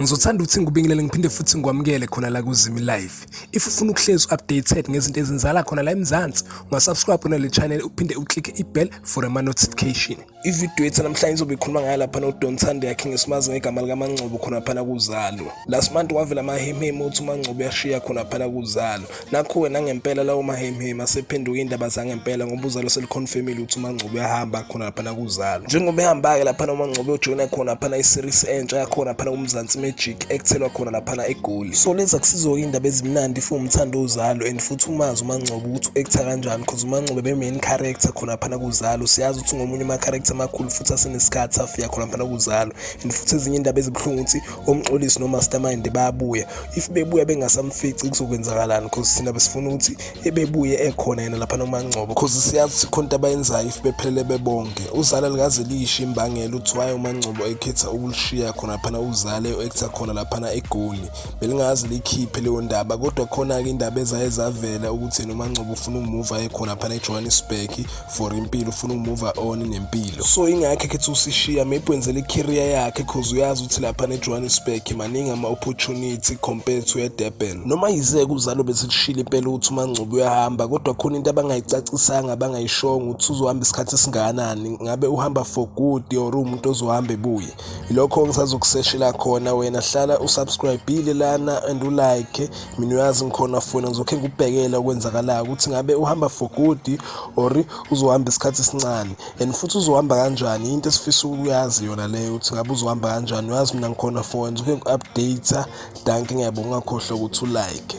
Ngizothanda ukuthi ngikubingelele ngiphinde futhi ngikwamukele khona la kuZimi Live. If ufuna ukuhlezi updated ngezinto ezenzala khona la eMzansi, ungasubscribe kona le channel uphinde uclick i-bell for ama notification. Ivideo yethu namhlanje izobe ikhuluma ngayo lapha no Don Thande yakhe ngesimazi ngegama lika Mangcobo khona phana kuzalo. Last month wavela amahemhemu ukuthi uMangcobo yashiya khona phana kuzalo. Nakhu-ke nangempela lawo mahemhemu asephenduka indaba zangempela ngoba uzalo selikhonfemile ukuthi umangcobo uyahamba khona laphana kuzalo njengoba ehamba-ke laphana umangcobo ujoyina khona laphana iseries entsha yakhona laphana kumzansi magic ekuthelwa khona laphana egoli so lezi akusizo-ke iy'ndaba ezimnandi if umthanda uzalo and futhi umazi umangcobo ukuthi u-ektha kanjani cause umangcobo ebe-main character khona laphana kuzalo siyazi ukuthi ngomunye ama-character amakhulu futhi asenesikhathi afika khona laphana kuzalo and futhi ezinye iy'ndaba ezibuhlungu ukuthi omxolisi no-mastermind bayabuya if bebuya bengasamfici kuzokwenzakalani because thina besifuna ukuthi ebebuye ekhona yena lapha nomangcobo because siyazi ukuthi khona into abayenzayo if bephelele bebonke uzala likaze liyisho imbangela ukuthi waye umangcobo ekhetha ukulishiya khona phana uzale u-actor khona laphana egoli belingazi likhiphe leyo ndaba kodwa khona-ke indaba ezaye zavela ukuthi yena umangcobo ufuna umuva ekhona phana ejohannesburg for impilo ufuna ukumove on nempilo so ingakhe khethi usishiya maybe wenzele icareer yakhe cause uyazi ukuthi lapha nejohannesburg maningi ama-opportunity compared to edurban noma yizeke uzalo besilishile impela ukuthi umangcubi uyahamba kodwa khona into abangayicacisanga abangayishongo ukuthi uzohamba isikhathi esingakanani ngabe uhamba for good or uwumuntu ozohamba ebuye yilokho ngisazokuseshela khona wena hlala usubscribile lana and ulike mina uyazi ngikhona fona ngizokhe ngikubhekele okwenzakalayo ukuthi ngabe uhamba for good or uzohamba isikhathi esincane and futhi uzohamba kanjani into esifisa ukuyazi yona leyo ukuthi ngabe uzohamba kanjani uyazi mina ngikhona fona ngizokhe ngiku-update danke ngiyabonga ungakhohlwa ukuthi ulike